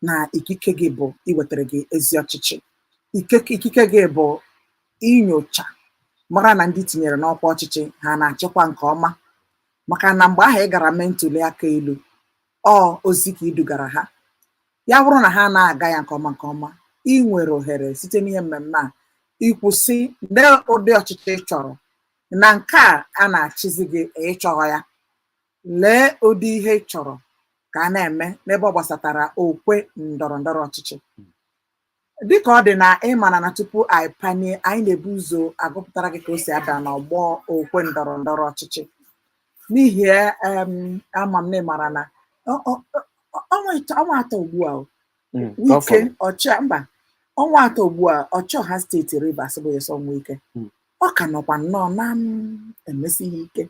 na ikike gị bụ iwetara gị ezi ọchịchị Ikike- ikike gị bụ inyocha mara na ndị tinyere n'ọkwa ọchịchị ha na-achịkwa nke ọma maka na mgbe ahụ ị gara mee ntuli aka elu ọ ozi ka i dugara ha ya bụrụ na ha na-aga ya nke ọma nke ọma i nwere ohere site n'ihe mmemme a ikwu sị lee ụdị ọchịchị ị chọrọ na nke a a na-achịzi gị ị chọhọ ya Lee ụdị ihe ị chọrọ ka a na-eme n'ebe ọ gbasatara okwe ndọrọ ndọrọ ọchịchị. Dịka ọ dị na ị mara na tupu anyị panie, anyị na-ebu ụzọ agụpụtara gị ka o si ada n'ọgbọ okwe ndọrọ ndọrọ ọchịchị. N'ihi ya, em, ama m na ị mara na ọ- ọ- ọ- ọnwa ịtọ- ọnwa atọ ugbu a o, Mm, Wike Ọfọlụ. ọcha mba ọnwa atọ ugbu a ọchịọha steeti Rivers bụ Nyesom Wike Mm. ọ ka nọkwa nnọọ na-emesi ihe ike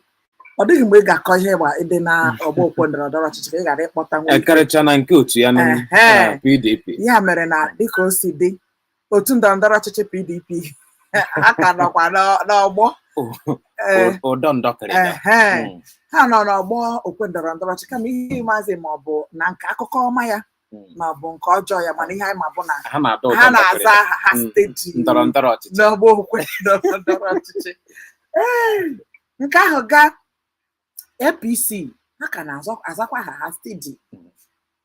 ọ dịghị mgbe ị ga-akọ ihe gba ịdị na ọgbọ okwe ndọrọ ndọrọ ọchịchị ka ị ghara ịkpọta nwa Wike. karịcha na nke otu ya na Ehe. na PDP ya mere na dịka o si dị otu ndọrọ ndọrọ ọchịchị PDP ha ka nọkwa n'ọ- n'ọgbọ O- Ee, o- ụdọ ndọkịrịda ehe. Mm, ha nọ n'ọgbọ okwe ndọrọ ndọrọ ọchịchị kama ihe maazị ma ọ bụ na nke akụkọ ọma ya hmm. ma ọ bụ nke ọjọọ ya mana ihe anyị ma bụ na ha na-aza aha ha hmm. steady n'ọgbọ okwe ndọrọ ndọrọ ọchịchị nke ahụ gaa APC ha ka na-azakwa aha ha steady hmm.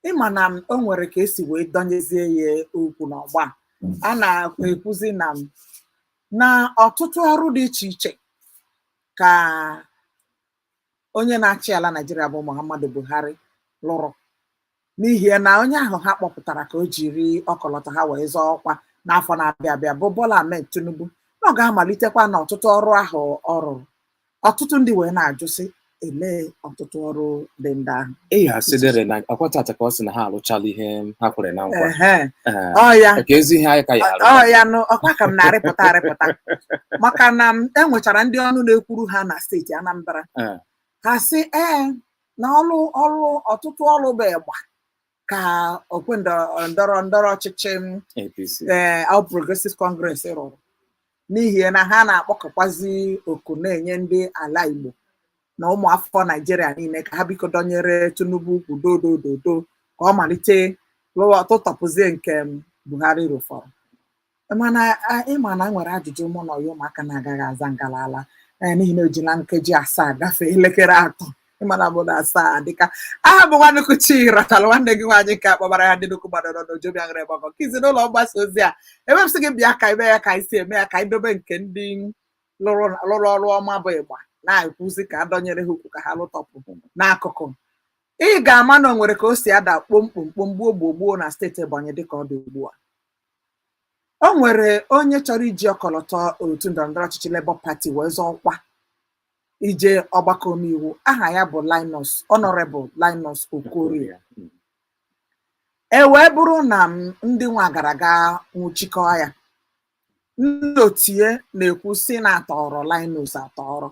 ị ma na o nwere ka e si wee dọnyezie ya ukwu n'ọgba a na-ekwuzi na na ọtụtụ ọrụ dị iche iche ka onye na-achị ala Naịjirịa bụ Muhammadu Buhari lụrụ n'ihi na onye ahụ ha kpọpụtara ka o jiri ọkọlọtọ ha wee zọọ ọkwa n'afọ na-abịa abịa bụ Bola Ahmed Tinubu na ọ ga-amalitekwa na ọtụtụ ọrụ ahụ ọ rụrụ ọtụtụ ndị wee na-ajụ sị elee ọtụtụ ọrụ dị ndị ahụ eyi asị dịrị na akwa tata ka ọ sị na ha alụchala ihe ha kwere na nkwa Ehe. Ee, ọ ya ka ezi ihe anyị ka ya arụ ọ ya nụ ọkwa ka m na-arịpụta arịpụta maka na m enwechara ndị ọnụ na-ekwuru ha na steeti Anambra Ee. ha sị ee na ọrụ ọrụ ọtụtụ ọrụ bụ ịgba ka okwe ndọrọ ndọrọ ndọrọ ọchịchị m APC ee All Progressive Congress rụrụ n'ihi na ha na-akpọkọkwazi oku na-enye ndị ala Igbo na ụmụafọ Naịjirịa niile ka ha biko dọnyere Tinubu ukwu dodododo ka ọ malite lụwa tụtọpụzie nke Buhari rụfọrọ ị ma na e nwere ajụjụ mụ na ọyọ ụmụaka na-agaghị aza ngalala n'ihi na e jila nkeji asaa gafee elekere atọ ịmana bụ na asaa dịka aha bụ nwanukwu chi ratara nwanne gị nwaanyị nke akpọbara ya ndị nnukwu mmadụ nọ n'ojobi aṅụrị gbakọ ka izi n'ụlọ mgbasa ozi a ebe m sị gị bịa ka ime ya ka anyị si eme ya ka anyị dobe nke ndị lụrụ lụrụ ọrụ ọma bụ ịgba na-ekwuzi ka adọnyere ha ukwu ka ha lụtọpụ n'akụkụ ị ga-ama na o nwere ka o si ada kpomkpomkpom gbuo gbuo gbuo na steeti Ebonyi dịka ọ dị ugbu a o nwere onye chọrọ iji ọkọlọtọ otu ndọrọndọrọ ọchịchị Labour Party wee zọọ ọkwa ije ọgbakọ omeiwu aha ya bụ Linus Honorable Linus Okorie e wee bụrụ na mm ndị nwa gara ga nwụchikọọ ya ndị otu ya na-ekwu sị na a tọọrọ Linus atọrọ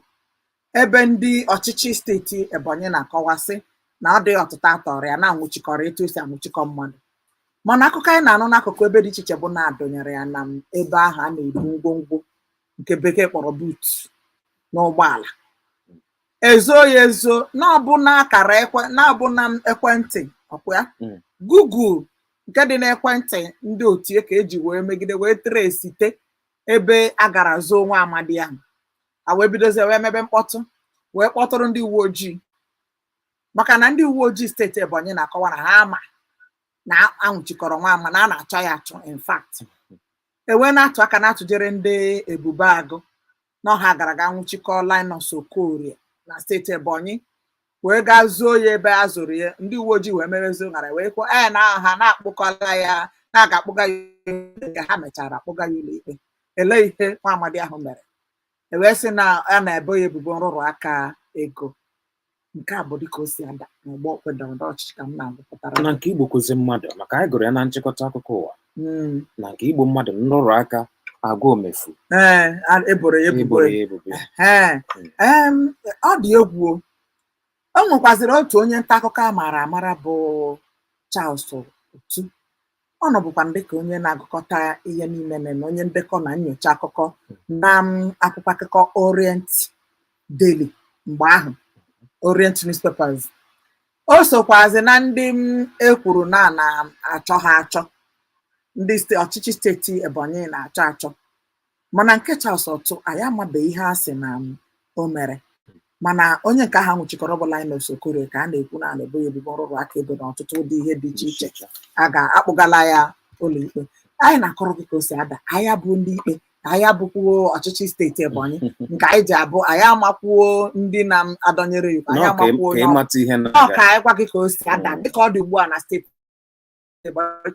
ebe ndị ọchịchị steeti Ebonyi na-akọwa sị na ọ dịghị ọtụtọ a tọọrọ ya na a nwụchikọrọ etu e si anwụchikọ mmadụ mana akụkọ anyị na-anụ n'akụkụ ebe dị iche iche bụ na a dọnyere ya na mm ebe ahụ a na-ebu ngwongwo nke bekee kpọrọ boot n'ụgbọala e zoo ya ezo na ọ bụ na akara ekwe na ọ bụ na ekwentị ọkwa ya Mm. Google nke dị n'ekwentị ndị otu ya ka e ji wee megide wee tresite ebe a gara zoo nwa amadi ahụ a wee bidozie wee mebe mkpọtụ wee kpọtụrụ ndị uwe ojii maka na ndị uwe ojii steeti Ebonyi na-akọwa na ha ama na a nwụchikọrọ nwa ama na a na-achọ ya achọ in fact e wee na-atụ aka na-atụjere ndị Ebube Agụ na ọ ha gara ga nwụchikọọ Linus Okorie na steeti Ebonyi wee gaa zoo ya ebe e zoro ya ndị uwe ojii wee merezi ụṅara wee kwuo ee na ha na-akpụkọla ya na a ga-akpụga ya ụlọikpe ka ha mechara akpụga ya ụlọikpe elee ihe nwa amadi ahụ mere e wee sị na a na-ebo ya ebubo nrụrụ aka ego nke a bụ dịka o si ada n'ọgbọ okwe ndọrọ ndọrọ ọchịchị ka m na-agụpụtara na nke igbukwuzi mmadụ maka anyị gụrụ ya na nchịkọta akụkọ ụwa Mm. na nke igbu mmadụ nrụrụ aka agwa omefu Ee, a- e boro ya ebubo e boro ya ebubo Ee, em, ọ dị egwu o. o nwekwazịrị otu onye nta akụkọ a maara amara bụ Charles Otu ọ nọbukwa dịka onye na-agụkọta ihe niile na onye ndekọ na nyocha akụkọ na mm, akwụkwọ akụkọ Orient Daily mgbe ahụ Orient Newspapers o sokwazi na ndị mm, e kwuru na a na-achọ ha achọ ndị ọchịchị steeti Ebonyi na-achọ achọ Mana nke Charles Otu, anyị amabeghị ihe a sị na o mere. Mana onye nke ahụ a nwụchikọrọ bụ Linus Okorie ka a na-ekwu na a na-ebo ya ebubo nrụrụ aka ego na ọtụtụ ụdị ihe dị iche iche a ga-akpụgala ya ụlọikpe. Anyị na-akọrọ gị ka o si ada, anyị abụ ndị ikpe, anyị abụkwuo ọchịchị steeti Ebonyi, nke anyị ji abụ anyị amakwuo ndị na-adọnyere iwu, anyị Nọọ ka ị- amakwuo ka onye ọ ịmata ihe Ọ na-aga. ka anyị gwa gị ka o si ada Mm. dịka ọ dị ugbu a na steeti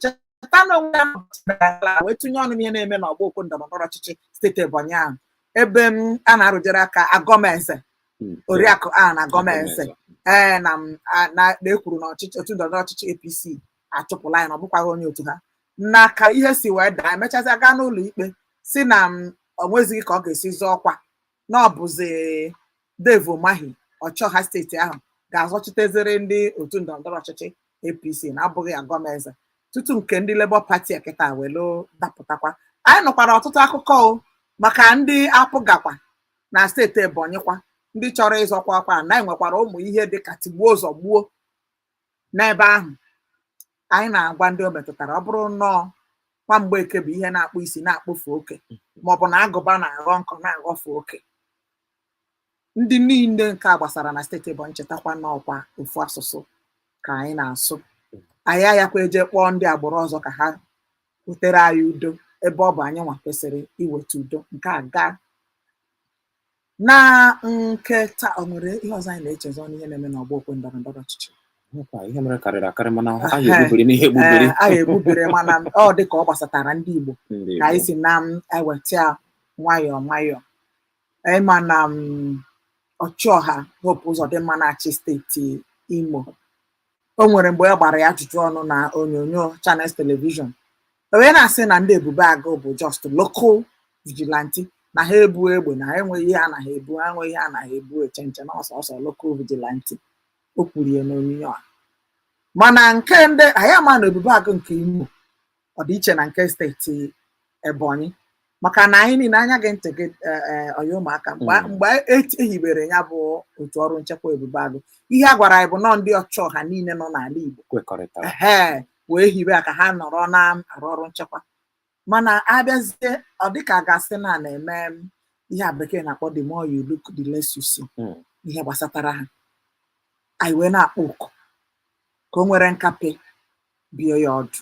cheta na onwe ya wee tụnye ọnụ ihe na-eme n'ọgbọ okwe ndọrọndọrọ ọchịchị steeti Ebonyi ahụ ebe m a na-arụjere aka Agom-Eze hmm. oriakụ Ann Agom-Eze ee eh, na-ekwuru na ọchịchị otu ndọrọndọrọ ọchịchị APC achụpụla ya na ọ bụkwaghị onye otu ha na ka ihe si wee daa emechazị aga n'ụlọ ikpe sị na o nwezighị ka ọ ga-esi zọọ ọkwa na ọ bụzi Dave Umahi ọchịọha steeti ahụ ga-azọchiteziri ndị otu ndọrọndọrọ ọchịchị APC na abụghị Agom-Eze tutu nke ndị Labour Party a kịta welu dapụtakwa anyị nụkwara ọtụtụ akụkọ maka ndị APGA kwa na steeti Ebonyi kwa ndị chọrọ ịzọkwa ọkwa na enwekwara ụmụ ihe dịka tigbuo zọgbuo N'ebe ahụ, anyị na-agwa ndị o metụtara ọ bụrụ n'ọkwa Mgbeke bụ ihe na-akpụ isi na-akpụfe oke maọbụ na agụba na-aghọ nkọ na-aghọfe oke ndị niile nke a gbasara na steeti Ebonyi chetakwa n'ọkwa ofu asụsụ ka anyị na-asụ anyị ayakwa eje kpọọ ndị agbụrụ ọzọ ka ha butere anyị udo ebe ọ bụ anyị nwa kwesịrị iweta udo nke a gaa Na nke taa, o nwere ihe ọzọ anyị na-echezọ n'ihe na-eme n'ọgbọ okwe ndọrọ ndọrọ ọchịchị? Nwekwa ihe mere karịrị akarị mana ha Ehe. egbubiri n'ihe egbubiri. Ee, anyị egbubere mana ọ dị ka ọ gbasatara ndị Igbo Ndị ka anyị Igbo. si na m eweta ya nwayọọ nwayọọ ị ma na m ọchịọha Hope Uzodimma na-achị steeti Imo o nwere mgbe a gbara ya ajụjụ ọnụ na onyonyo Channels Television o wee na-asị na ndị Ebube Agụ bụ just local vigilante na ha ebu egbe na ha enweghị ihe ha na-ebu ha enweghị ihe ha na-ebu eche nche na ọ sọsọ local vigilante o kwuru ya n'onyinyo a mana nke ndị anyị ama na Ebube Agụ nke Imo ọ dị iche na nke steeti Ebonyi maka na anyị niile anya gị ntị gị eh, eh, ọya ụmụaka mgbe Mm. mgbe e- e hibere ya bụ otu ọrụ nchekwa ebube agụ ihe a gwara anyị bụ nọ ndị ọchịọha niile nọ n'ala igbo kwekọrịtara ehe wee hibe ya ka ha nọrọ na-arụ ọrụ nchekwa mana abịazie ọ dịka a ga-asị na a na-eme m, ihe a bekee na-akpọ the more you look the less you see Mm. ihe gbasatara ha anyị wee na-akpọ oku ka o nwere nkapị bie ya ọdụ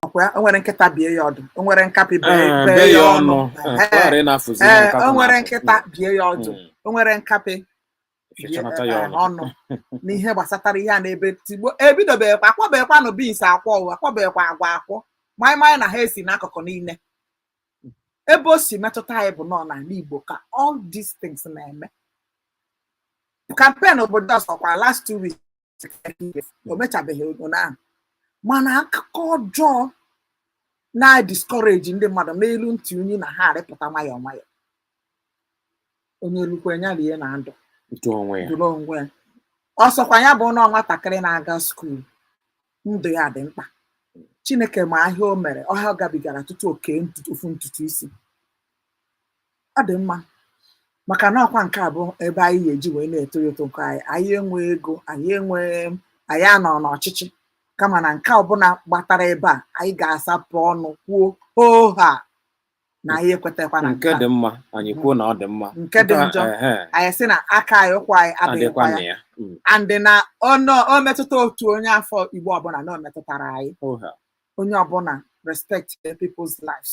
ọkwa ya, o nwere nkịta bie ya ọdụ o nwere nkapị bee Ee, bee bee ya ọnụ Ee, Ehe. ghara ịna-afụzi ihe ee nkapị o nwere na-afụ. nkịta bie ya ọdụ Mm. o nwere nkapị bie Fịchanata ya eh, ọnụ. ọnụ n'ihe gbasatara ihe a na-ebe tigbo ebidobeghịkwa akwọbeghịkwanụ beans akwọ o akwọbeghịkwa agwa akwọ maịmaị na ha esi n'akụkụ niile ebe o si metụta anyị bụ nọ n'ala igbo ka all these things na-eme campaign bido ọsọkwa last two weeks o mechabeghị ụnyaahụ mana akụkọ ọjọọ na-discourage ndị mmadụ na-elu ntị unyi na ha arịpụta nwayọọ nwayọọ onye lukwe ya rie na ndụ dụrụ onwe ya ọ sọkwa ya bụ na nwatakịrị na-aga skuul ndụ ya dị mkpa chineke ma ahịa o mere ọhịa ọ gabigara tutu o kee ofu ntutu isi ọ dị mma maka na ọkwa nke a bụ ebe anyị ga-eji wee na-eto eto nke anyị anyị enwe ego anyị enwe anyị anọ n'ọchịchị kama na nke ọbụla gbatara ebe a anyị ga-asapụ ọnụ kwuo hoohaa na anyị ekwetakwa na nke dị mma anyị kwuo na ọ dị mma nke dị njọ anyị sị na aka anyị ụkwụ anyị adịghịkwa ya mm. and na o metụta otu onye afọ igbo ọbụla na o metụtara anyị onye ọbụla respect people's lives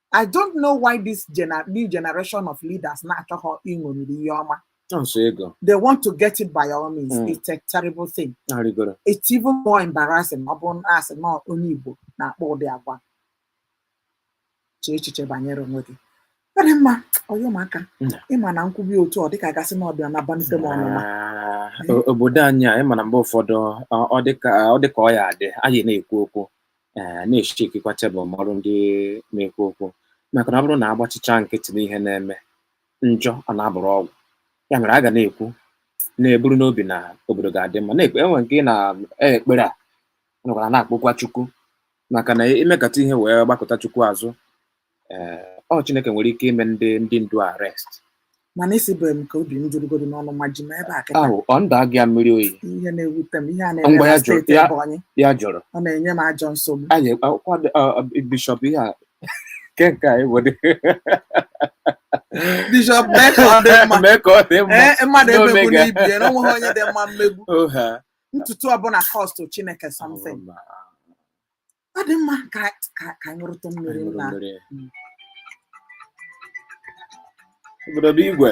I don't know why this gener new generation of leaders na-achọghọ iṅomiri ihe ọma. Sọ ego. They want to get it by all means. Mm. It's a terrible thing. Arịgoro. It's even more embarrassing ọ bụrụ na a sị na onye Igbo na-akpa ụdị agwa. Chee echiche banyere onwe gị. Ọ dị mma, ọyọ m aka. Ị ma na m kwube otu ọ dịka a ga-asị na ọbịa na banite m ọnụma. Obodo anyị a, ị ma na mgbe ụfọdụ ọ dịka ọ ya-adị, anyị na-ekwu okwu. ee eh, na-echikikwa tebụl mọrụ ndị na-ekwu okwu maka na ọ bụrụ na a gbachicha nkịtị n'ihe na-eme njọ ọ na-abụrụ ọgwụ ya mere a ga na-ekwu na-eburu n'obi na obodo ga-adị mma na-ekpe enwe nke ị na-ekpere a nọkwara na-akpọkwa chukwu maka na i mekata ihe wee gbakụta chukwu azụ eh, ọ Chineke nwere ike ime ndị ndị ndu arrest mana isi bụ m ka obi m jụrụgodu na ọnụma ji m ebe a kịta ahụ ọ ndụ agị ya mmiri oyi ihe na-ewute m ihe a na-eme Ngwa ya na jụrụ, steeti ya- Ebonyi ya jụrụ ọ na-enye m ajọ nsogbu anyị akwụkwọ dị- ọ- ọ- bishọp ihe a nke nke a ewere bishọp mee ka ọ dị mma mee ka ọ dị mma ee mmadụ N'omega. emegbuna ibe ya na onweghị onye dị mma mmegbu Oha. ntutu ọbụla cost chineke something Ọma. ọ dị mma ka ka ka anyị ṅụrụtụ mmiri Anyị ṅụrụ nna mmiri. Mm. obodo bụ igwe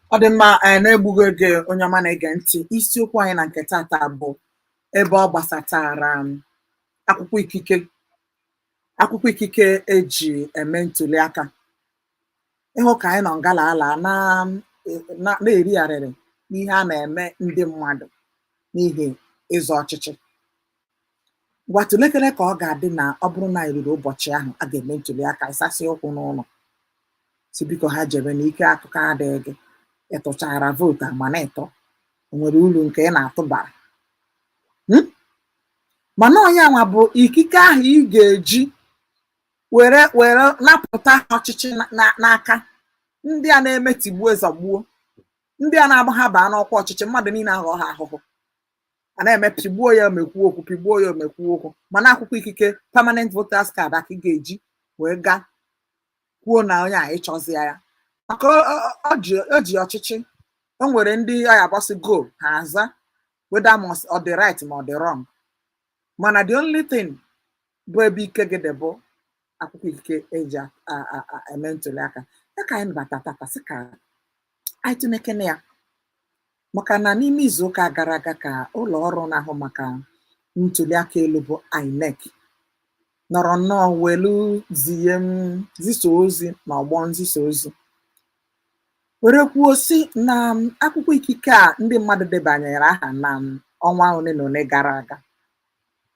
ọ dị mma n'egbughị oge onye ọma na-ege ntị isiokwu anyị na nke tata bụ ebe ọ gbasatara um, akwụkwọ ikike akwụkwọ ikike eji eme ntuli aka ị hụ ka anyị nọ ngala ala na na- na-eri arịrị n'ihe a na-eme ndị mmadụ n'ihi ịzọ ọchịchị Ngwa tụlekere ka ọ ga-adị na ọ bụrụ na anyị ruru ụbọchị ahụ a ga-eme ntuli aka ị sasị ụkwụ n'ụlọ sị biko ha jebe na ike akụkọ adịghị gị ịtụchara vootu a mana ịtọ o nwere uru nke ị na-atụ bara Hmm? mana ọ ya nwa bụ ikike ahụ ị ga-eji were were napụta ọchịchị na- na- n'aka ndị a na-eme tigbuo zọgbuo ndị a na-agba ha baa n'ọkwa ọchịchị mmadụ niile aghọ ha ahụhụ a na-eme pịgbuo ya o mee kwuo okwu pịgbuo ya o mee kwuo okwu mana akwụkwọ ikike permanent voters card a ka ị ga-eji wee gaa kwuo na onye a ị chọzịa ya maka ọ- ọ- ọ ji- o ji ọchịchị o nwere ndị ọ ya-agbasị ego ha aza whether ma ọ dị right ma ọ dị wrong mana the only thing bụ ebe ike gị dị bụ akwụkwọ ikike e ji a- a- a- a- eme ntuli aka ya ka anyị bata tata sị ka anyị tụnekene ya maka na n'ime izu ụka gara aga ka ụlọ ọrụ na-ahụ maka ntuli aka elu bụ INEC nọrọ nnọọ welu zie m zisa ozi na ọgbọ nzisa ozi were kwuo sị na m, akwụkwọ ikike a ndị mmadụ debanyere aha na m, ọnwa ole na ole gara aga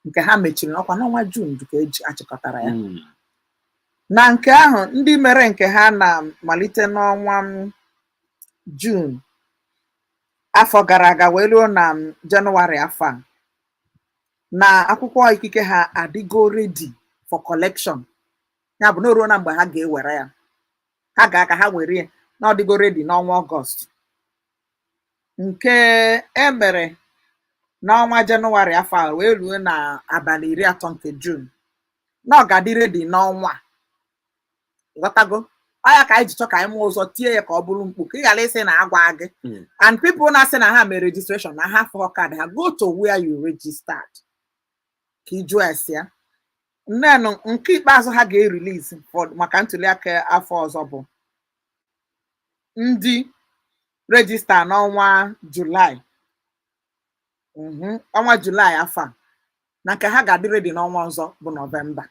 nke ha mechiri ọ kwa n'ọnwa Jun ka e ji achịkọtara ya Mm. na nke ahụ ndị mere nke ha na malite n'ọnwa m, Jun afọ gara aga wee ruo na m, Jenụwarị afọ a na akwụkwọ ikike ha adịgo ready for collection ya bụ na o ruona mgbe ha ga-ewere ya ha gaa ka ha were ya na ọ dịgo ready n'ọnwa ọgọst nke e mere n'ọnwa jenụwarị afọ a wee ruo na abalị iri atọ nke jun na ọ ga-adị ready n'ọnwa a. ghọtago ọ ya ka anyị ji chọ ka anyị maa ụzọ tie ya ka ọ bụrụ mkpu ka ị ghara ịsị na agwa gị Mm. and people na-asị na ha mere registration na ha afụọ card ha go to where you registered ka ị jụọ ese ya neenụ nke ikpeazụ ha ga-erelease for- maka ntuliaka afọ ọzọ bụ ndị register n'ọnwa julaị Mhm, ọnwa julaị afọ a na nke ha ga-adị ready n'ọnwa ọzọ bụ nọvemba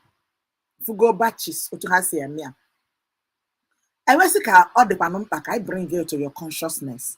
fụgo batches otu ha si eme ya e wee sị ka ọ dịkwanụ mkpa ka anyị bring it to your consciousness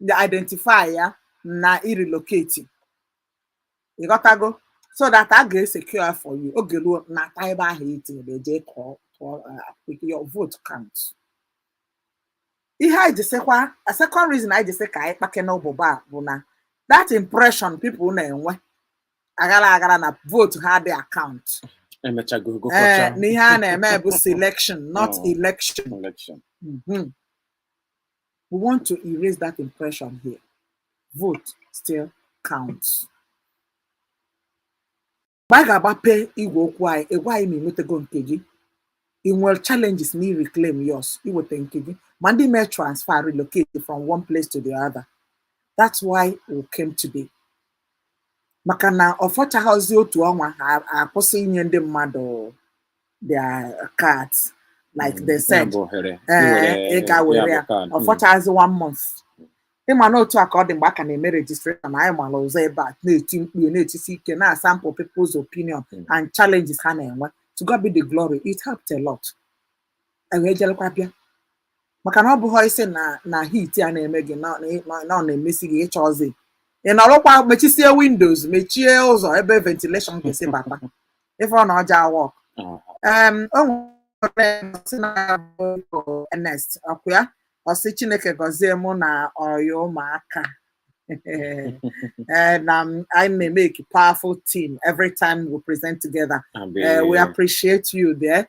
jee identify ya na ị relocate ị ghọtago so that a ga-esecure ya for you oge ruo ị nata ebe ahụ i tinyere eje kọọ kọọ uh, your vote count ihe anyị ji sịkwa a second reason anyị ji sị ka anyị kpakene ụbụbọ a bụ na that impression people na-enwe aghara aghara na vote ha adị acount e mechago ee gụkọcha na ihe a na-eme bụ selection not Mm. election election Mhm. We want to erase that impression here. Vote still counts. mgbe anyị ga-agbape igwe okwu anyị ị gwa anyị ma ị nwetago nke gị ị nwere challenges na reclaim yours iweta nke gị ma ndị mee transfer relocate from one place to the other that's why we came today maka na ọ fọchaghịzi otu ọnwa ha akwụsị inye ndị mmadụ their cards like they said bụ ohere ee ị ga were ya ọ fọchazi one month ị ma na otu a ka ọ dị mgbe a ka na-eme registration anyị mara ụzọ ebe a na-eti mkpu na-etisi ike na-asample people's opinion Mm. and challenges ha na-enwe to God be the glory it helped a lot anyị wee jelekwa bịa maka na ọ bụghị ịsị na na heat a na-eme gị na na- na ọ na-emesi gị ị chọzi ịnọrọkwa mechisie windows mechie ụzọ ebe ventilation ga-esi bata ife ọ na ọ ja-awork em o nwere sị na ya bụ Igbo Ernest ọkwa ya ọ sị Chineke gọzie mụ na ọya ụmụaka Eh, na m- I may make a powerful team every time we present together. Eh, we appreciate you there.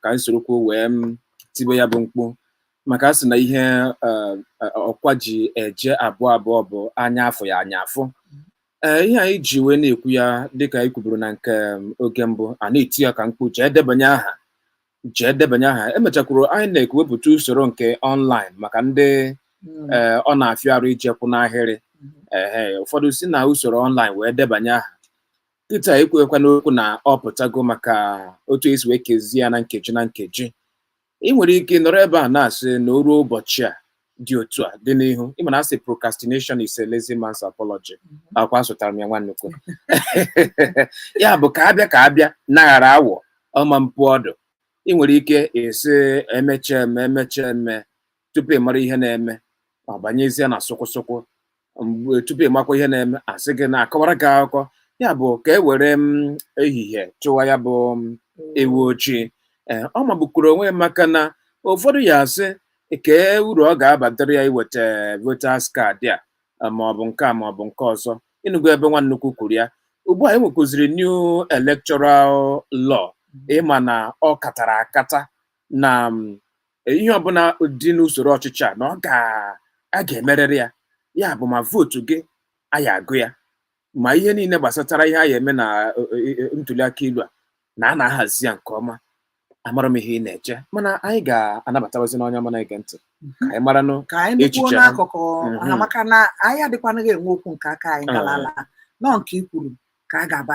ka anyị sorokwu wee tibe ya bụ mkpu maka a sị na ihe eh, eh, ọkwa ji eje abụọ abụọ bụ anya afụghị anya afụ ee ihe anyị ji wee na-ekwu ya dịka anyị kwuburu na nke em, oge mbụ a na-eti ya ka mkpu jee debanye aha jee debanye aha emechakwuru INEC wepụta usoro nke online maka ndị Mm. ee ọ na-afịa arụ ije kwụ n'ahịrị ehe ụfọdụ si na usoro online wee debanye aha kịta e kwuekwa n'okwu na ọ pụtago maka otu e si wee kezie ya na nkeji na nkeji ị nwere ike nọrọ ebe a na-asị na o ruo ụbọchị a dị otu a dị n'ihu ị ma na a sị procrastination is a lazy man's apology akwa asụtara m ya nwa nnukwu ya bụ ka a bịa ka a bịa naghara awọ ọma mpu ọdụ ị nwere ike ịsị e mechaa e mee e mechaa e mee tupu ị mara ihe na-eme ọ banyezie na sụkwụsụkwụ mgbe tupu ị makwa ihe na-eme a sị gị na-akọwara gị akụkọ ya bụ ka e were ehihie chụwa ya bụ ewu ojii ee ọ magbukwuru onwe ya maka na ụfọdụ ya-asị kee uru ọ ga-abatara ya iweta voters card a eh, ma ọ bụ nke a ma ọ bụ nke ọzọ ị nụgo ebe nwa nnukwu kwuru ya ugbu a e nwekwuziri new electoral law ị ma na ọ katara akata na ihe ọbụla dị n'usoro ọchịchị a na ọ ga a ga-emerịrị ya ya bụ ma vootu gị a ya-agụ ya ma ihe niile gbasatara ihe a ya-eme na ntuli aka ilu a na a na-ahazi ya nke ọma amara m ihe ị na-eche mana anyị ga-anabatawazi n'onye ọma na-ege ntị ka anyị maranụ ka anyị nụkwuo Echiche ha. n'akụkụ ha Mhm. maka na anyị adịkwanaghị enwe okwu nke aka anyị Ah. galala na ọ nke i kwuru ka a ga-aba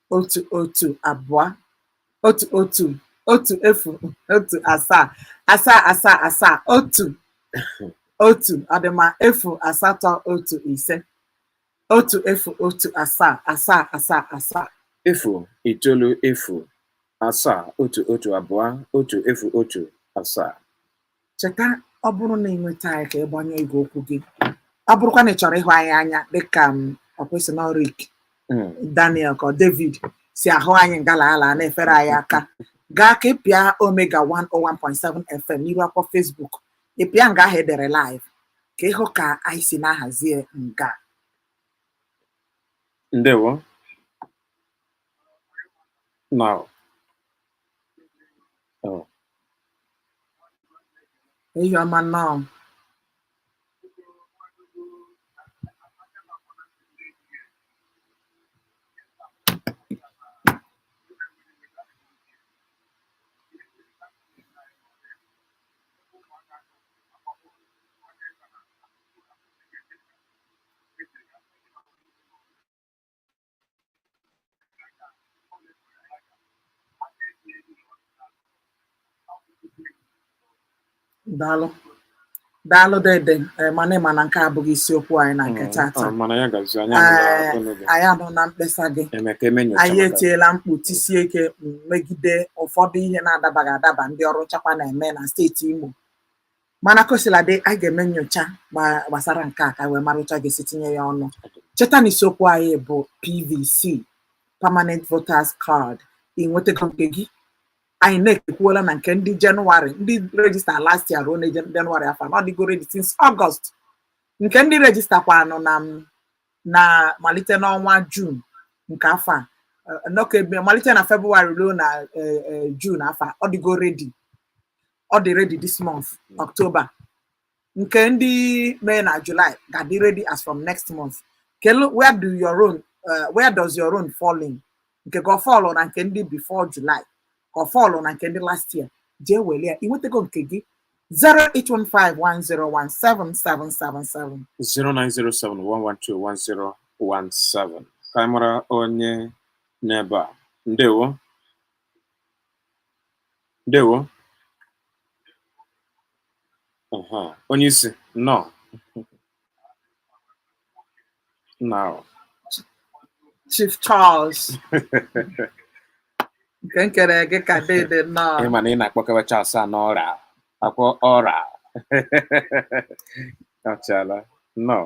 otu otu abụọ otu otu otu efu otu asaa asaa asaa asaa otu otu ọ dị mma efu asatọ otu ise otu efu otu asaa asaa asaa asaa efu itoolu efu asaa otu otu abụọ otu efu otu asaa Cheta ọ bụrụ na ị nweta anyị ka ị gbanyụọ igwe okwu gị ọ bụrụkwa na ị chọrọ ịhụ anyị anya dịka m ọ kwa ị sị na Rick Mm. Daniel ka ọ David si ahụ anyị ngala ala na-efere anyị aka gaa ka ị pịa Omega 101.7 FM n'iru akwụkwọ Facebook ị pịa nga ahụ edere live ka ị hụ ka anyị si na-ahazie nga Ndewo. Now, Eyi ọma nnọọ. daalụ daalụ dede eh, mana ị ma na nke a abụghị isiokwu anyị na nke mm, tata ah, eh, anyị anụna mkpesa gị anyị etiela mkpu tisie ike mm, megide ụfọdụ ihe na-adabaghị adaba ndị ọrụ nchekwa na-eme na steeti Imo mana kosiladị a ga-eme nyocha gbasara nke a ka wee mara otu a ga-esi tinye ya ọnụ cheta na isiokwu anyị bụ pvc permanent voters card ị nwetago nke gị anyị na-ekwuola na nke ndị jenụwarị ndị rejista last year ruo na jenụwarị afọ a na ọ dịgo ready since ọgọst nke ndị rejista kwanụ na na malite n'ọnwa jun nke afọ a nọkebe malite na febụwarị ruo na jun afọ a ọ dịgo ready ọ dị ready this month October nke ndị mee na July ga-adị ready as from next month kedu where do your own uh, where does your own fall in nke gị ọ fọlụ na nke ndị before July ka ọ fọlụ na nke ndị last year jee were ya ị nwetago nke gị 08151017777 09071121017 ka anyị mara onye nọ ebe a ndewo Ndewo. Uh-huh. Onye isi nnọọ nnọọ. Chief Charles. Nke nkere gị ka dede nnọọ. Ị ma na ị na-akpọkewa Charles a n'ọra akwọ ọra. Ọchala nnọọ.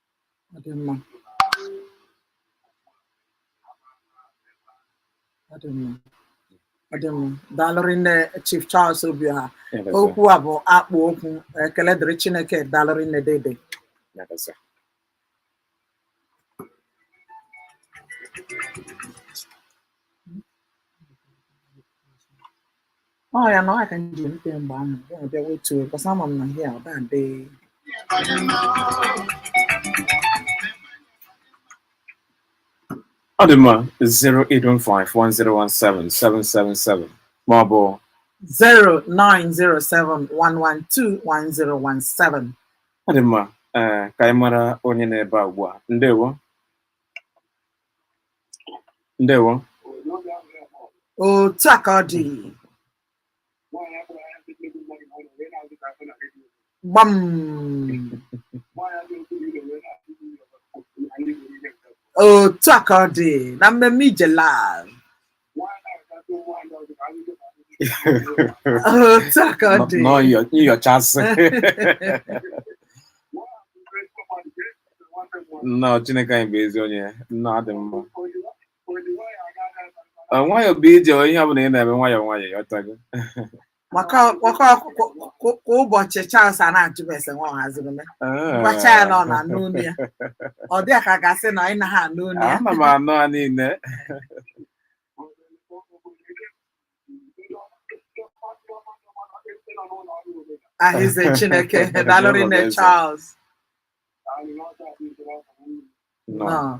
mm mm mm daalụ rinne chief charles obiọha okwu a bụ akpụ okwu ekele dịrị chineke daalụ rinne dede ọ ya na ọ ka nji mpe mgbe ahụ ya bịa wetu because ama m na ihe a ọ da adị ọ dị mma 08151017777 ma ọ bụ 09071121017 ọ dị mma ee ka anyị mara onye nọ ebe a ugbu a ndewo ndewo otu a ka ọ dị gbam otu a ka ọ dị na mmemme ijela nyochasị nnọọ chineke anyị bụ ezi onye nna adị mma nwayọọ bụ ije ihe ọ bụla ị na-eme nwayọọ nwayọọ ị ghọtago Maka maka kwa- kwa kwa ụbọchị Charles a na-ajụ m ese nwa ọ haziri m gwacha ya na ọ na-anụ olu ya ọ dị ya ka a ga-asị na ị naghị anụ olu ya ana m anụ ha niile arịnze Chineke daalụ rinne Charles nnọọ nnọọ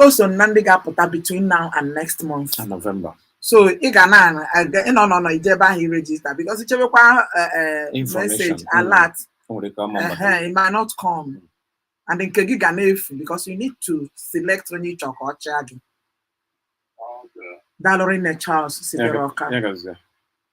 o so na ndị ga-apụta between now and next month na November so ị ga na ịnọ nọ nọ ije ebe ahụ i register because i chebekwa message alert it might not come and nke gị ga na-efu because you need to select onye ị chọ ka ọ chịa gị daalụ rinne Charles sitere Ọka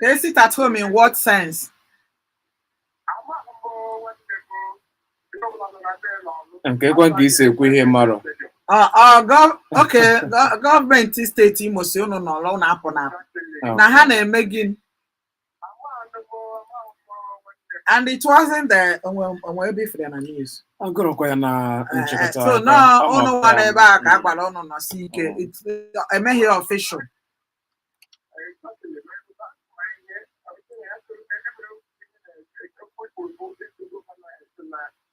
They sit at home in what sense? nke kwa nke isi ekwu ihe mara Ah, ah, gọ- okay, gọ- gọọmenti steeti Imo sị unu nọrọ unu apụna apụ. na ha na-eme gịnị and it wasn't that o nwe ebe ifere na news agụrụkwa ya na eh, nchịkọta so na unu nwa n'ebe a ka a gwara unu nọsi ike emeghị ya official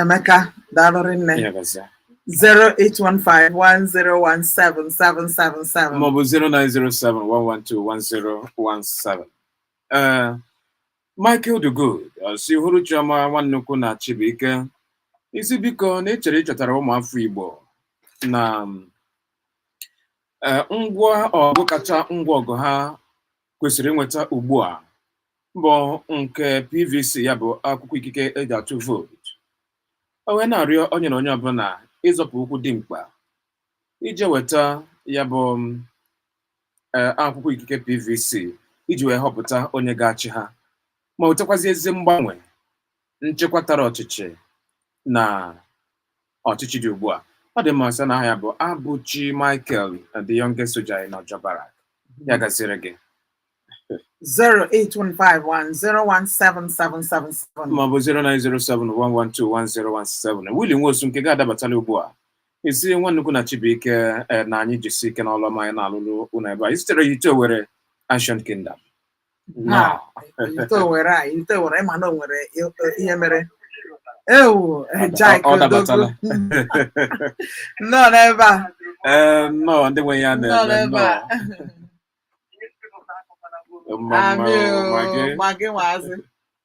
Emeka daalụ rinne 08151017777 maọbụ 09071121017 ee Michael the Good si hụrụ Chioma Nwannukwu na Chibuike ị sị biko na ị chọrọ ichetara ụmụafọ Igbo na ngwa ọgụ kacha ngwa ọgụ ha kwesịrị inweta ugbu a bụ nke PVC ya bụ akwụkwọ ikike eji atụ vootu o wee na-arịọ onye na onye ọbụla ịzọpụ ụkwụ dị mkpa ije weta ya bụ eh, akwụkwọ ikike PVC iji wee họpụta onye ga-achị ha ma wetakwazi ezi mgbanwe nchekwa tara ọchịchị na ọchịchị dị ugbu a ọ dị mma sị na aha ya bụ Abuchi Michael the youngest soldier in Ojo Barrack ya gaziere gị 08151017777 maọbụ 09071121017 Willie Nwosu nke gị adabatala ugbu a ị sị Nwannukwu na Chibuike eh, na anyị jisi ike n'ọlụ ọma anyị na-alụlụ unu ebe a isitere Ihite Owerri Ancient Kingdom na Ihite Owerri a Ihite Owerri ịma na o nwere i- ihe mere ewu Ọ- Jack ọ dabatala. nọ n'ebe a Ee, nnọọ ndị nwe ya nọ na-eme n'ebe nnọọ a Mma, mma, amị mma gị. ma gị nwaazị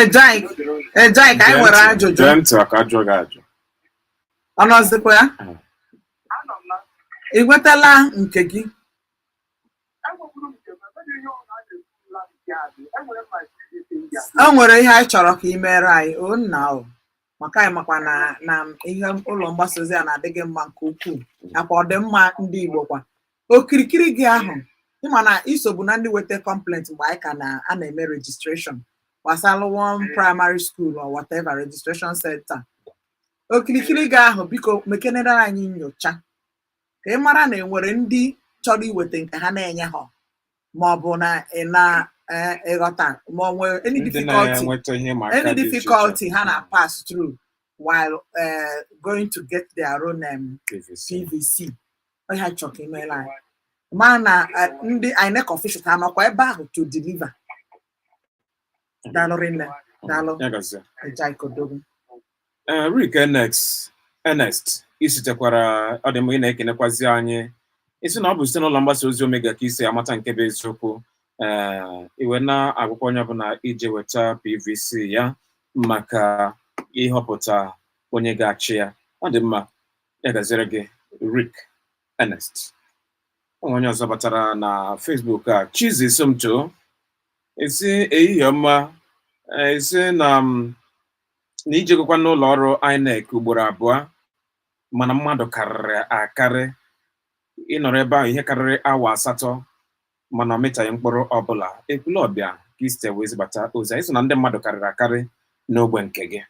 Ejai, Ejai, ka anyị nwere ajụjụ. Gee ntị ka ajụọ gị ajụ. Ọ nọzikwa ya? Ị nwetala nke gị? e nwere ihe anyị chọrọ ka ị mere anyị o nna o maka anyị makwa na na ihe ụlọ mgbasa ozi a na-adị gị mma nke ukwuu nakwa ọdịmma ndị Igbo kwa okirikiri gị ahụ ịma na isobu na ndị weta complaint mgbe anyị ka na-eme registration gbasara one primary school or whatever registration center okirikiri gị ahụ biko mekenere anyị nyocha ka ị mara na enwere ndị chọrọ iweta nke ha na-enye ha ma ọ bụ na ị na-ịghọta e, ma ọ nwere any difficulty any difficulty ha na pass through while uh, going to get their own um, PVC ọha chọrọ ka imeela anyị ma na e, ndị INEC officials ha nọkwa ebe ahụ to deliver daalụ rinne daalụ Ya gazie. Ejike Odogwu Eh, Rick Enex Ernest isitekwara ọ dị mma ị na-ekenekwazi anyị ị sị na ọ bụ site n'ụlọ mgbasa ozi Omega ka i si amata nke bụ eziokwu ee i wee na-agwakwa onye ọbụla ije weta PVC ya maka ịhọpụta onye ga-achị ya ọ dị mma ya gaziere gị Rick Ernest O nwe onye ọzọ batara na Facebook a Chizzy Somto Ị sị ehihie ọma ị sị na na i jegokwa n'ụlọ ọrụ INEC ugboro abụọ mana mmadụ karịrị akarị ị nọrọ ebe ahụ ihe karịrị awa asatọ mana ọ mịtaghị mkpụrụ ọbụla Ekwulọbịa ka i site wee zibata ozi a ị sị na ndị mmadụ karịrị akarị n'ogbe nke gị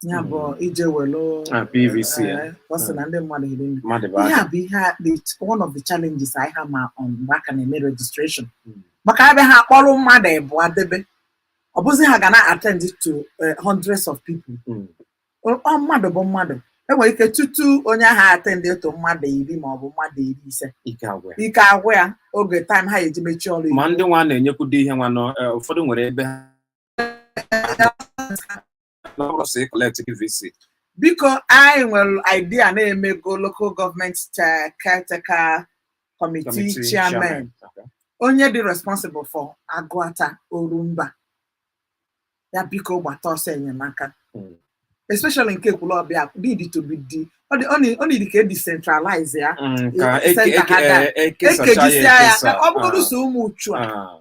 ya bụ ije welu Ah, PVC ya. eh, ọ sị na ndị mmadụ hiri nne. mmadụ bụ ihe aka a bụ ihe a- the- one of the challenges anyị ha ma um, mgbe a ka na-eme registration Mm. maka ebe ha kpọrọ mmadụ ịbụọ debe ọ bụzi ha ga na attend to eh, hundreds of people Mm. Ọ- ọ mmadụ bụ mmadụ enwere ike tutu onye ahụ attend to mmadụ iri ma ọ bụ mmadụ iri ise ike agwụ ya. ike agwụ ya oge time ha eji mechie ọrụ ma ndị nwa na-enyekwudo ihe nwa nọ eh, ụfọdụ nwere ebe ha biko anyị nwere idea na e mego local government caretaker committee chairman onye dị responsible for Agụata Orumba ya biko gbata ọsọ enyemaka hmm. especially nke Ekwulọbịa need to be di ọ need ka e decentralize ya e kejisia ya ka ọ bụrụ so Umuchu a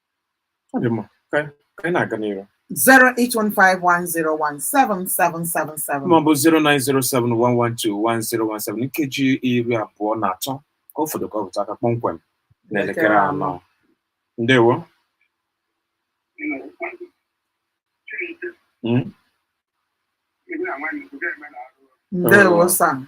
Ọ dị mma. Ka anyị- ka anyị na-aga n'iru. 08151017777. Ma ọ bụ 09071121017 nkeji iri abụọ na atọ ka ọ fọdụ ka ọ bịtụ aka kpọmkwem n'elekere anọ. Ndewo. Mm? Ndewo Sam.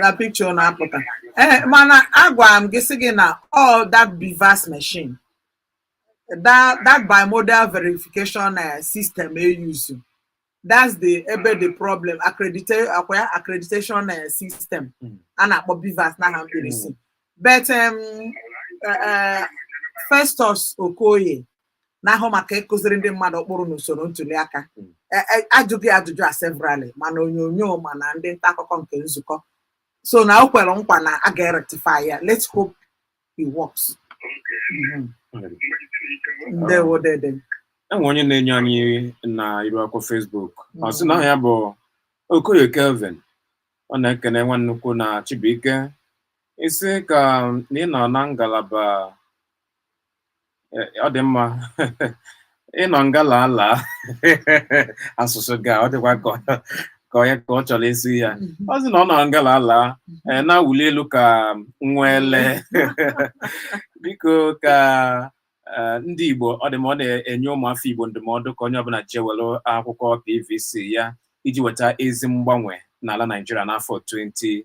na picture na-apụta ee eh, mana agwara m gị sị gị na all that BVAS machine that that bimodal verification eh, system e use that's the ebe the problem accreditation ọkwa ya accreditation eh, system hmm. a na-akpọ BVAS n'aha mkpirisi hmm. but um, Festus Okoye na-ahụ maka ịkụziri ndị mmadụ ụkpụrụ na usoro ntuli aka Mm. E- e- ajụgo ya ajụjụ a severally ma na onyonyo ma na ndị nta akụkọ nke nzukọ so na o kwere nkwa na a ga-erectify ya let's hope it works Mhm. ndewo dede enwe onye na-enye anyị na iru akwụkwọ Facebook ọ sị na aha ya bụ Okoye Kelvin ọ na-ekene nwa nnukwu na Chibuike isi ka ị nọ na ngalaba ọ dị mma ịnọ nga laa laa asụsụ ga ọ dịkwa ka ọ- ka onye ka ọ chọrọ ịsị ya ọ sị na ọ nọ nga laa laa eh, na-awụli elu ka nwa ele biko ka eh, ndị Igbo ọ dị mma ọ na-enye ụmụafọ Igbo ndụmọdụ ka onye ọbụla jee were akwụkwọ PVC ya iji weta ezi mgbanwe n'ala Naijiria n'afọ 20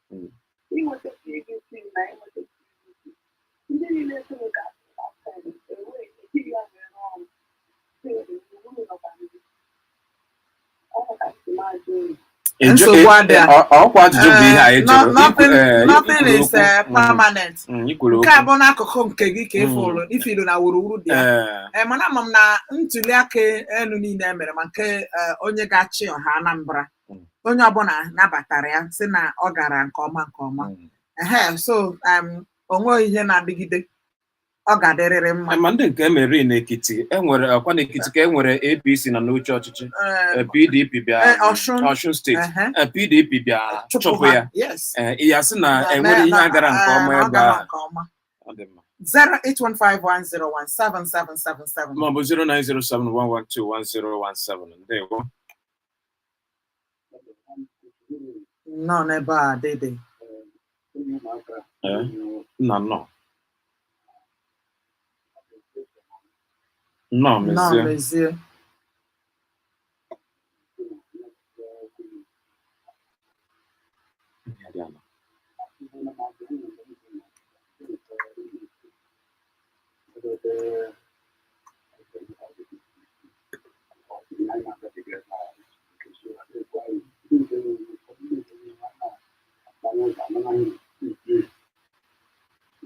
inweta PVC na inweta PVC ndị niile soro ka asụsụ enweghị ejighị ya wee rụọ ọrụ uru nọkwa ndị ọ maka ntụmajụ uru nsogbu adịa nothing is permanent nke a bụ n'akụkụ nke gị ka ị fụlụ na wuruwuru dị ya mana ama m na ntuli aka enu niile emere ma nke onye ga-achị ọha Anambra Mm. onye ọbụla nabatara ya sị na ọ gara nke ọma nke ọma Mm. ehe so um, o nweghị ihe na-adịgide ọ ga-adịrịrị mma ma ndị nke emeri n'ekiti enwere ọkwa n'ekiti ka enwere apc na n'oche ọchịchị Eh, Eh, pdp bịa eh, Ọshụn. ọshụn steeti ehe, Eh, pdp bịa chụpụ chụpụ ha. ya Yes. Eh, ya sị na Na- enwere na- ihe na- a gara nke ọma eh, ọ ebe gara a nke ọma. Ọ dị mma. 08151017777 maọbụ 09071121017 ndewo Nnọọ n'ebe a dede. Nna nnọọ. Nnọọ mezie.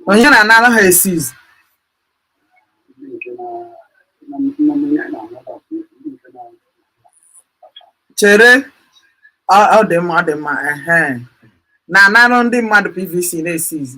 onye na-anara ha eseize chere o ọ dị mma ọ dị mma ehe na-anara ndị mmadụ pvc na-eseize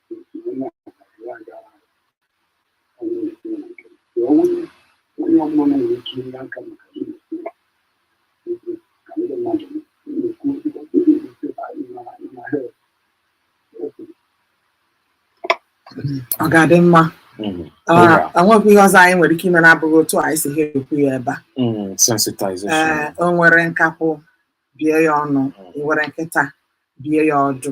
ọ ga-adị mma o nwekwaghị ihe ọzọ anyị nwere ike ime na-abụghị otu anyị si ha ekwu ya ebe a o were nkakwụ bie ya ọnụ were nkịta bie ya ọdụ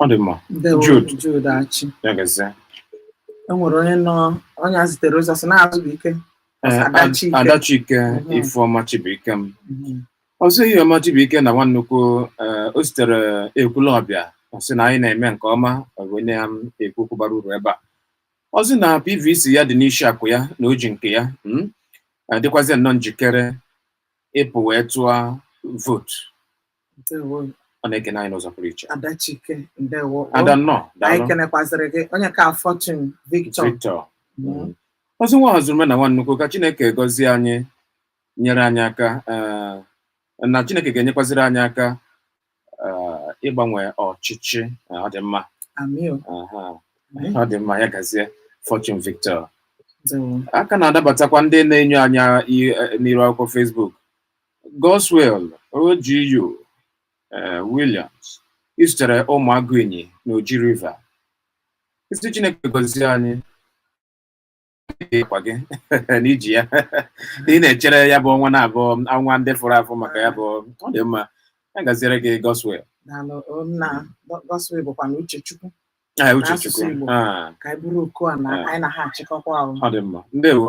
ọ dị mma Ndewo, Jude. Jude Achị. ya gazie E nwere onye nọ onye a zitere ozi ọ sị na Azụbụike. Ee, Ad- Adachike. Adachike Mhm. Ifeọma Chibuikem ọzọ ihe ọma Chibuike na nwa nnukwu ee, o sitere Ekwulọbịa ọ sị na anyị na-eme nke ọma ọ bụ na anyị na-ekwu okwu bara uru ebe a ọ sị na PVC ya dị n'isi akwa ya na o ji nke ya mm, dịkwazị nnọọ njikere ịpụ wee tụọ vootu ndewo ọ na-ekene anyị n'ụzọ pụrụ iche adachike ndewo ada nnọọ anyị daalụ kenekwazịrị gị Onyeka Fortune Victor Victor Mm. ọzọ nwa ọzụrume na nwa nnukwu ka chineke gọzie anyị nyere anyị aka eh, na chineke ga-enyekwaziri anyị aka eh, ịgbanwe ọchịchị Eh, ọ dị mma amio aha, ọ dị mma ya gazie Fortune Victor ndewo a ka na-adabatakwa ndị na-enyo anyị eh, n'iru akwụkwọ Facebook Godswill OGU eh, Williams i sitere Ụmụagụ Inyi na Oji River ị sị Chineke gọzie anyị ịkwa gị na i ji ya ị na-echere ya bụ ọnwa na-abụ ọnwa ndị fụrụ afụ maka ya bụ ọ dị mma ya gaziere gị Godswill daalụ o, nna Godswill bụkwanụ Uchechukwu Ah, Uchechukwu N'asụsụ Igbo. Ah, ka anyị buru oku a na Ah. anyị na ha achịkọkwa ahụ ọ dị mma ndewo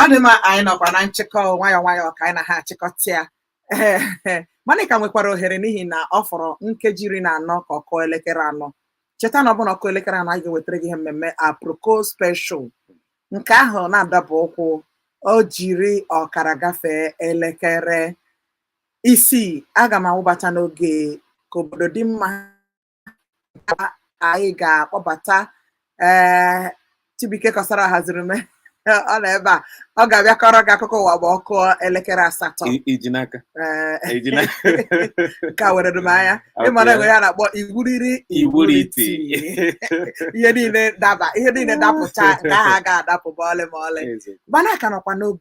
ọ dị mma anyị nọkwa na nchịkọ nwayọọ nwayọọ ka anyị na ha achịkọta ya mana ị ka nwekwara ohere n'ihi na ọ fọrọ nkeji iri na anọ ka ọ kụọ elekere anọ cheta na ọ bụrụ na ọ kụọ elekere anọ anyị ga-ewetara gị ihe mmemme aproko special nke ahụ na-adaba ọ kụọ o jiri ọkara gafee elekere Isii, aga m awụbata n'oge ka obodo dị mma anyị ga-akpọbata ee Chibuike Kọsara haziri m ọ nọ ebe a ọ ga-abịa kọrọ gị akụkọ ụwa ma ọ kụọ elekere asatọ I- iji n'aka Ee, iji n'aka nke a were m anya Okay. ịmara e nwere ihe a na-akpọ iwuriri iwuriti ihe niile daba ihe niile dapụcha nke ahụ agaghị adapụ ma ọlị ma ọlị Eze. mana ka nọkwa n'obi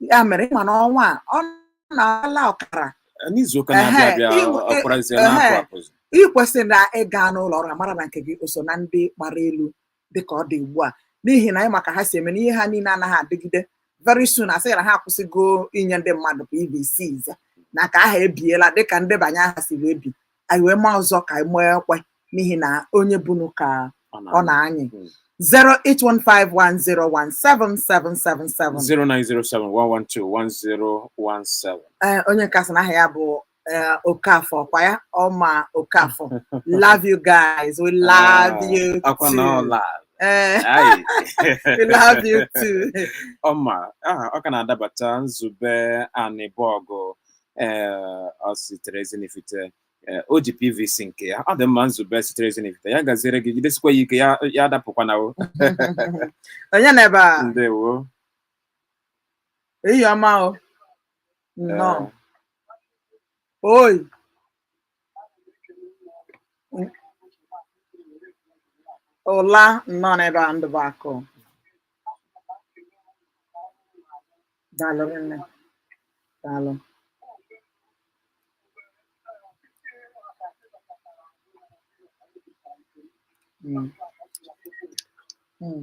ya mere ịma na ọnwa a ọ na-ala ọkara n'izuụka Ehe, na-abịa abịa iwu- ọ- ọ kwarazie ehe. na-apụ apụzi ị kwesịrị na ị gaa n'ụlọ ọrụ ha mara na nke gị o so na ndị gbara elu dịka ọ dị ugbu a n'ihi na anyị ma ka ha si eme na ihe ha niile anaghị adịgide very soon a sị na ha akwụsịgo inye ndị mmadụ PVCs na nke ahụ ebiela dịka ndebanye aha si wee bi anyị wee maa ọzọ ka anyị maa ekwe n'ihi na onye bunu ka ọ na-anyị 08151017777 0907-112-1017. ee onye nke a sị na aha ya bụ ee, Okafor kwa ya ọma Okafor love you guys we love Ah, you Akwa na ọ too la. Ee, Ayi. we love you too Ọma, aha, ọ ka na-adabata Nzube Anịbọgụ ee o sitere Ezinifite ee, o ji PVC nke ya ọ dị mma Nzube sitere Ezinifite ya gaziere gị jidesikwa ya ike ya adapụkwana o onye nọ ebe a ndewo ehihie ọma o nnọọ Ee, oyi ụla nọ n'ebe a ndụ bụ akụ daalụ nne daalụ Mm. Mm.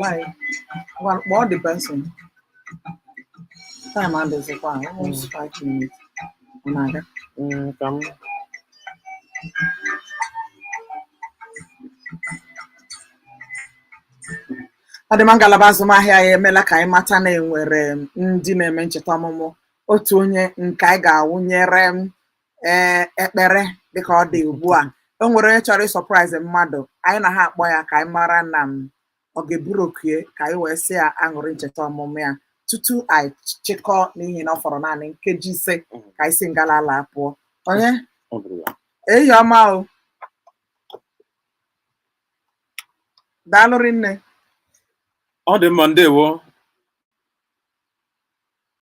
Why? Well, what depends on time and is it one? Almost five minutes. Unaga. Mm, come. ọ dị mma ngalaba azụmahịa ya emela ka anyị mata na e nwere ndị na-eme ncheta ọmụmụ otu onye nke anyị ga-awụnyere ee ekpere dịka ọ dị ugbu a o nwere onye chọrọ ịsurprise mmadụ anyị na ha akpọ ya ka anyị mara ma ọ ga-eburu oku ka anyị wee sị ya aṅụrị ncheta ọmụmụ ya tutu anyị chịkọọ n'ihi na ọ fọrọ naanị nkeji ise ka anyị si ngalaba a pụọ onye Ọ bụrụ ya. ehihie ọma o daalụ rinne ọ dị mma ndewo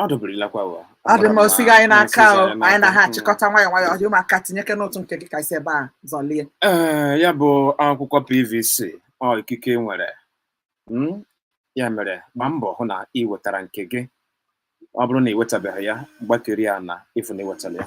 ọ dọbirila kwa ụwa Ọ dị mma, o sighị anyị n'aka o. Anyị na ha achịkọta nwayọọ nwayọọ. Ọ dị mma ka i tinyekene ụtụ nke gị ka e si ebe a zọlie. ee ya bụ akwụkwọ pvc ọ ikike ị nwere Mm, ya mere gbaa mbọ hụ na ị wetara nke gị ọ bụrụ na ị wetabeghị ya gbakeri ya na ịfụ na ị wetara ya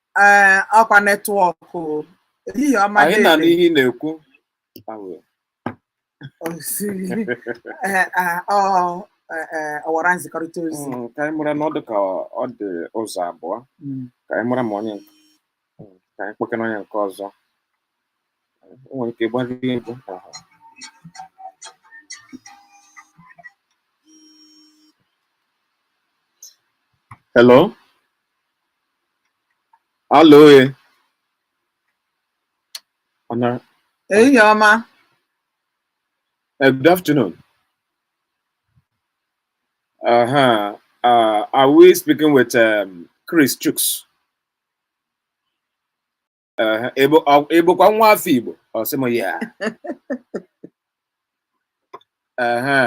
ee ọkwa netwọkụ ehihie ọma anyị na dede. n'ihe ị na-ekwu Awe. Osi. Ee, ee, ọ ee, ee, ọwara nzikọrịta ozi Mm, ka anyị mara na ọ dị ka ọ dị ụzọ abụọ Mm. ka anyị mara ma onye nke- mm, ka anyị kpọkena onye nke ọzọ o nwere ike gbara ihe mbụ ahụ. Hello? Alo e. Ehihie ọma. Eh, good afternoon. Uh -huh. uh, are we speaking with um, Chris Chooks? Ehe, ị bụ- ọ- ị bụkwa nwa afọ Igbo ọ sị m ya Ehe.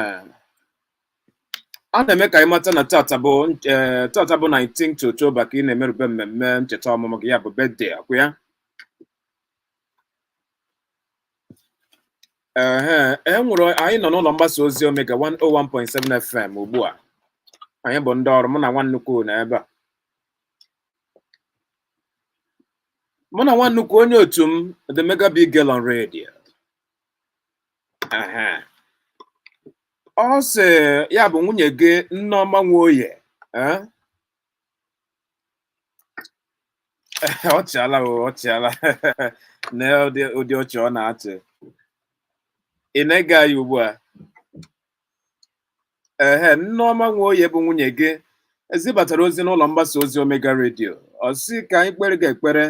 a na-eme ka anyị mata na tata bụ eh, tata bụ 19 October ka ị na-emerube mmemme ncheta ọmụmụ gị ya bụ birthday ọ kwa ya Ehe, e nwere anyị nọ n'ụlọ mgbasa ozi Omega 101.7 FM ugbu a anyị bụ ndị ọrụ mụ na nwa nnukwu nọ ebe a mụ na nwa nnukwu onye otu m the mega big girl on radio Aha. ọ sị ya bụ nwunye gị nneọma nwoye eh? ọ chịala o ọ chịala na ụdị ụdị ọchị ọ na-achị ị na-ege anyị ugbu a ehe nneọma nwoye bụ nwunye gị ezibatara ozi n'ụlọ mgbasa ozi omega redio ọ sị ka anyị kpere gị ekpere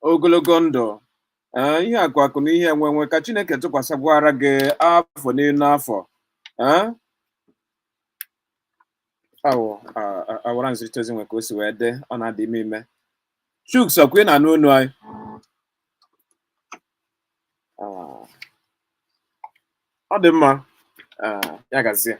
ogologo ndụ ee, ihe akụ akụ na ihe enwe enwe ka chineke tụkwasịkwara gị afọ n'elu afọ ee? awụ a- a- ọwara nzirịta ozi nwe ka o si wee dị ọ na-adị ime ime chuks ọ kwa ị na-anụ onu anyị ah. ọ dị mma ah, ya gazie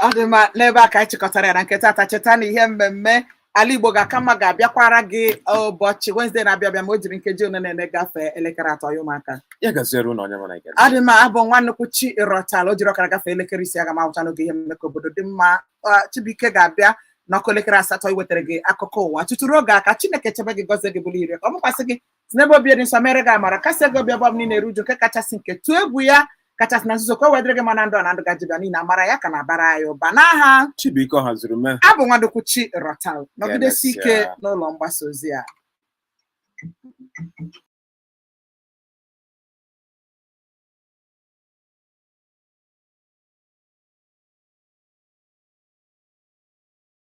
ọ dị mma n'ebe a ka anyị chịkọtara ya na nke tata cheta na ihe mmemme ala igbo ga-aka mma ga-abịakwara gị ụbọchị Wednesday na-abịa abịa ma o jiri nkeji ole na ole gafee elekere atọ ya ụmụaka ya gaziere ụlọ onye mana ọ dị mma abụ nwa nnukwu chi ịrọtala o jiri ọkara gafee elekere isii aga m ahụcha n'oge ihe mmemme ka obodo dị mma Chibuike ga-abịa n'ọ kụọ elekere asatọ iwetara gị akụkọ ụwa tutu ruo oge a ka chineke chebe gị gọzie gị bulie iru ya ka ọ mụkwasị gị si n'ebe obi dị nsọ meere gị amara kasie gị obi ọ bụrụ na ị na-eru uju nke kachasị nke tụọ egwu ya kachasị na nzuzo ka o wee dịrị gị mma na ndụ a na ndụ gaje ịbịa niile amara ya ka na-abara anyị ụba n'aha Chibuike Ọhazurume abụ nwa nnukwu chi ịrọtala nọgidesie ike Emesịa. n'ụlọ mgbasa ozi a